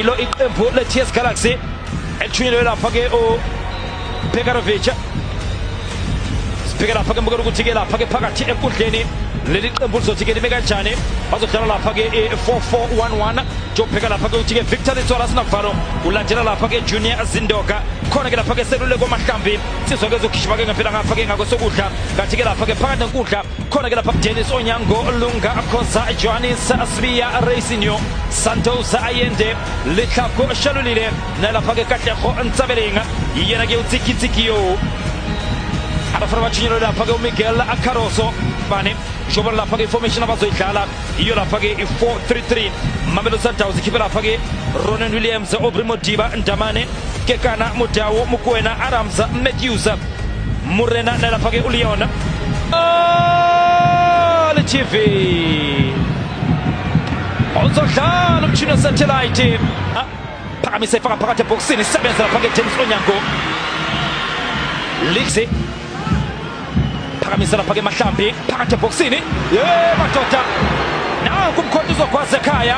ilo iqembu le-ts galaxy elithunyelwe lapha-ke ubekarovic sibheke lapha-ke mbukela ukuthi-ke lapha-ke phakathi enkundleni leli qembu lizothi-ke lime kanjani bazodlala lapha-ke i-4411 njengobheka lapha-ke ukuthi-ke victor litswala sinavalo ulandela lapha-ke junior zindoka khona-ke lapha-ke seluleko amahlambi sizwa-ke zokhishima-ke ngempela ngapha-ke ngakwesokudla kanti-ke lapha-ke phakathi nenkundla khona ke lapha Dennis Onyango Lunga Khoza Johannes Asbiya Racingyo Santos Ayende Litlhako Shalulile na lapha ke Katlego Ntsabeleng yena ke utsikitsiki yo abafana batshinyelwe lapha ke uMiguel Acaroso bane njengoba lapha ke information abazoyidlala iyo lapha-ke i-433 mamelo sundowns ikhiphe lapha-ke ronan williams obri modiba ndamane kekana mudawo mukwena aramza matthews murena nalapha-ke uleon ltv uzodlala umshini wesatellite phakamise ifaka phakathi ebhokisini isebenza lapha-ke james onyango lise phakamisa lapha ke mahlambi phakathi ebhokisini ye madoda nanku umkhonto uzogwaza ekhaya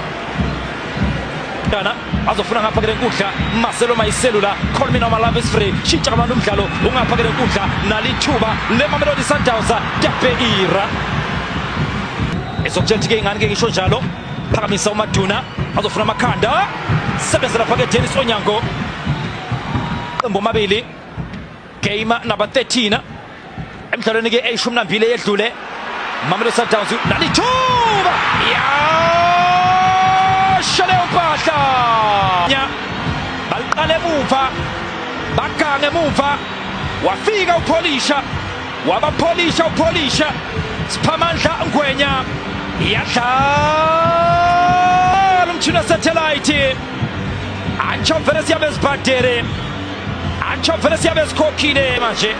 kana azofuna ngapha ke lenkundla Marcelo Mayiselula Colmin Oma Love is free shintsha abantu umdlalo ungapha ke lenkundla nalithuba leMamelodi Sundowns Tapeira ezokutshela ukuthi ke ingane ke ngisho njalo phakamisa uMaduna azofuna amakhanda sebenzela phakathi Dennis Onyango qembu omabili game number 13 emdlalweni ke eyishumi nambili eyedlule Mamelodi Sundowns nalithuba yasha leyo mpahla baliqala emuva bagange emuva wafika upholisha wabapholisha upholisha siphamandla ngwenya iyadlala umtshini wesatellite antsho vele siyabezibhadere Antsho vele siyabe sikhokhile manje.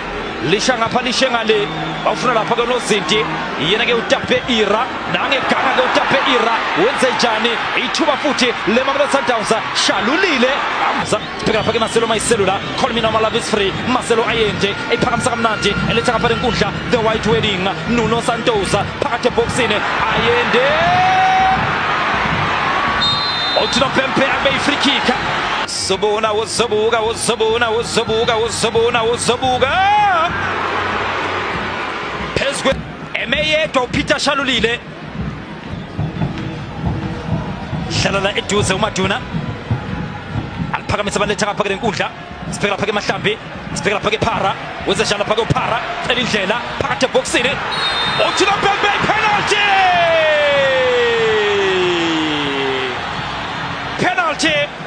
Lisha ngapha lishe ngale. Bawufuna lapha ke nozinti. Yena ke utape ira. Nange ganga ke utape ira. Wenze njani? Ithuba futhi le Mamelodi Sundowns shalulile. Sibheka lapha ke Marcelo Mayiselula. Colmina Malava is free. Marcelo ayenje. Iphakamisa kamnandi. Eletha ngapha lenkundla. The White Wedding. Nuno Santos phakathi ebhoksini. Ayende. Othina Pempe abe ifree kick. Zobona uzobuka uzobona uzobuka uzobona uzobuka phezulu emeyedwa uPeter Shalulile dlalela eduze uMaduna aliphakamisa baletha ngapha kule nkundla sibheka lapha ke mahlambi sibheka lapha ke phara wenze njalo lapha ke uphara cela indlela phakathi ebhoksini uthi lo bhek bhek penalty penalty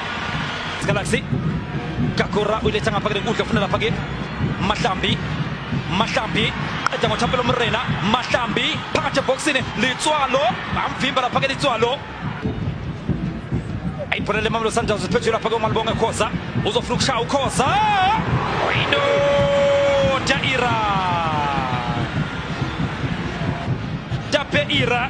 Galaxy Kakura uyiletha ngapha ke lenkundla ufuna lapha ke Mahlambi Mahlambi qeda ngoThapelo Mrena Mahlambi phakathi ebhoksini Litswalo bamvimba lapha ke Litswalo ayibholele Mamelodi Sundowns iphethwe lapha ke uMalibonga Khoza uzofuna ukushaya uKhoza indoda Ira Tape Ira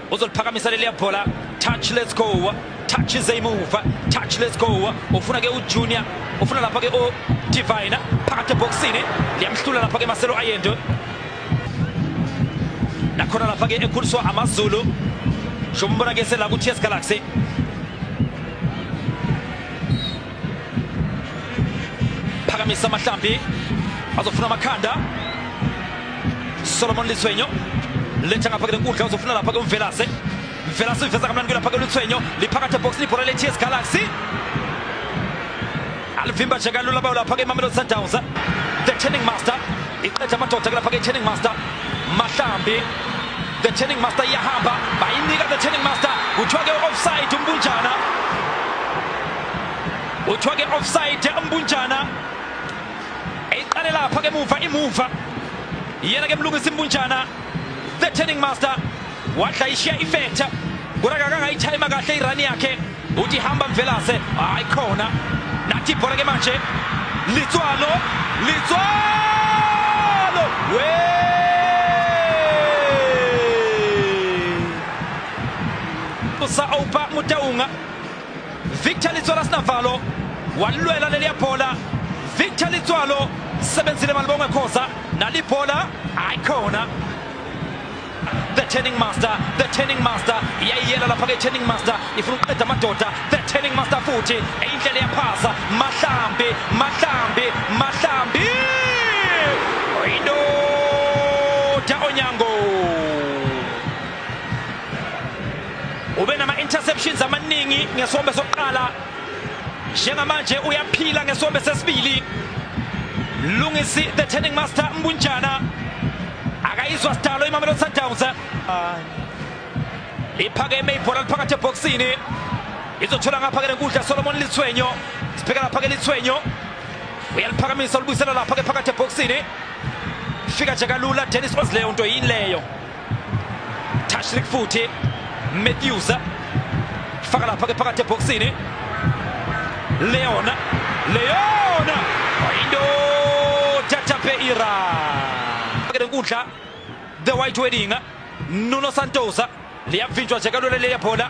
uzoliphakamisa leliya bhola touch let's go touch is a move touch let's go ufuna ke ujunior ufuna lapha ke o divine phakathi eboxini liyamhlula lapha ke maselo ayendo nakhona lapha ke ekhuliswa amazulu shombona ke sela ku-ts galaxy phakamisa amahlambi azofuna amakhanda solomon lithwenyo letha ngapha kule nkundla uzofuna lapha kumvelase mvelase uyiveza kamnandi kwelapha kwelithwenyo liphakathi ebhokisini ibhola le-ts galaxy alivimba nje kalula bayo lapha ke imamelodi sundowns the turning master iqeda amadoda kulapha ke turning master mahlambi the turning master iyahamba bayinika the turning master kuthiwa ke offside umbunjana kuthiwa ke offside umbunjana eyiqale lapha ke muva imuva yena ke mlungisa imbunjana the turning master wadla ishiya ifetha kodwa kakangayithayima kahle irani yakhe uthi hamba mvelase hayi khona nathi ibhola ke manje litswalo litswalo we usa opa mutaunga Victor Litswalo sinavalo walilwela leliya bhola Victor Litswalo sebenzile malibongwe khoza nalibhola ayikhona the turning master the turning master iyayiyela lapha ke turning master ifuna ukuqeda amadoda the turning master futhi eyindlela yaphasa mahlambi mahlambi mahlambi indoda onyango ube nama-interceptions amaningi ngesombe sokuqala njengamanje uyaphila ngesombe sesibili lungisi the turning master mbunjana akayizwa sidalo imamelodi sundowns liphakeme ibhola liphakathi ebhokisini izothola ngapha ke lenkundla solomon lithwenyo sibheka lapha ke lithwenyo uyaliphakamisa ulibuyisela lapha ke phakathi ebhokisini fika nje kalula dennis osleyo nto yini leyo tashrik futhi matthews faka lapha ke phakathi ebhokisini leona leona indoda tapeira ke nkundla the white wedding nuno santosa liyavinjwa nje kalula leyabhola